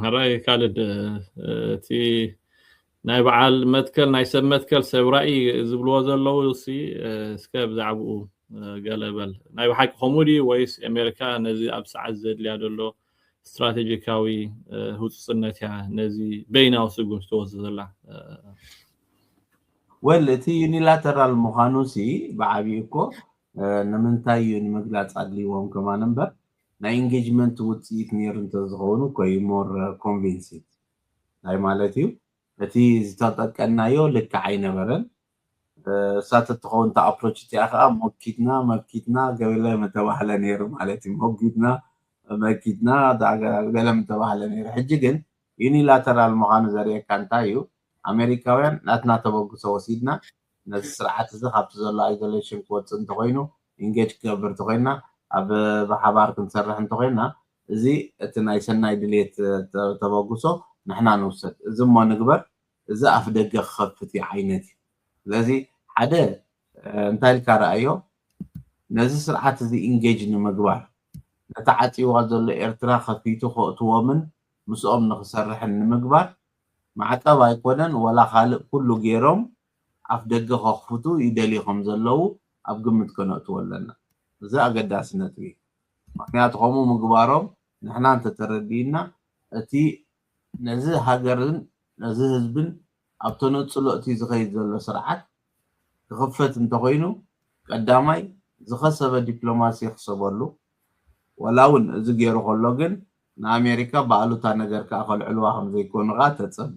ሐራይ ካልድ እቲ ናይ በዓል መትከል ናይ ሰብ መትከል ሰብ ራኢ ዝብልዎ ዘለዉ ሲ እስከ ብዛዕብኡ ገለ በል ናይ ብሓቂ ከምኡ ድዩ ወይስ ኣሜሪካ ነዚ ኣብ ሰዓት ዘድልያ ዘሎ ስትራቴጂካዊ ህውፅፅነት እያ ነዚ በይናዊ ስጉምቲ ትወስድ ዘላ ወል እቲ ዩኒላተራል ምዃኑ ሲ ብዓብዩ እኮ ንምንታይ እዩ ንምግላፅ ኣድልይዎም ከማን እምበር ናይ ኢንጌጅመንት ውጽኢት ኔሩ እንተዝኸውን ኮይ ሞር ኮንቪንሲት ታይ ማለት እዩ? እቲ ዝተጠቀናዮ ልክዕ ኣይነበረን እሳ ተትኸውን እታ ኣፕሮች እቲኣ ከኣ ሞኪትና መኪትና ገለ ምተባህለ ኔሩ ማለት እዩ ሞጊትና መኪትና ገለ ምተባህለ ኔሩ ሕጂ ግን ዩኒላተራል ምኻኑ ዘርእየካ እንታይ እዩ ኣሜሪካውያን ናትና ተበግሶ ወሲድና ነዚ ስርዓት እዚ ካብቲ ዘሎ ኣይዞሌሽን ክወጽእ እንተኾይኑ ኢንጌጅ ክገብር እንተኾይንና ኣብ ብሓባር ክንሰርሕ እንተኾይንና እዚ እቲ ናይ ሰናይ ድልየት ተበግሶ ንሕና ንውሰድ እዚ እሞ ንግበር እዚ ኣፍደገ ክኸፍት እዩ ዓይነት እዩ ስለዚ ሓደ እንታይ ኢልካ ረኣዮ ነዚ ስርዓት እዚ ኢንጌጅ ንምግባር ነቲ ዓጽይዋ ዘሎ ኤርትራ ከፊቱ ከእትዎምን ምስኦም ንኽሰርሕን ንምግባር ማዕቀብ ኣይኮነን ወላ ካልእ ኩሉ ጌሮም ኣፍደገ ከኽፍቱ ይደልዩ ከም ዘለዉ ኣብ ግምት ከነእትዎ ኣለና። እዚ ኣገዳሲ ነጥቢ እዩ፣ ምኽንያቱ ከምኡ ምግባሮም ንሕና እንተ ተረዲእና እቲ ነዚ ሃገርን ነዚ ህዝብን ኣብ ተነጽሎ'ቲ ዝኸይድ ዘሎ ስርዓት ክኽፈት እንተ ኾይኑ ቀዳማይ ዝኸሰበ ዲፕሎማሲ ይኽሰበሉ፣ ዋላ እውን እዚ ገይሩ ከሎ ግን ንኣሜሪካ ብኣሉታ ነገር ከኣ ከልዕልዋ ከም ዘይኮኑ ከኣ ተጸበ።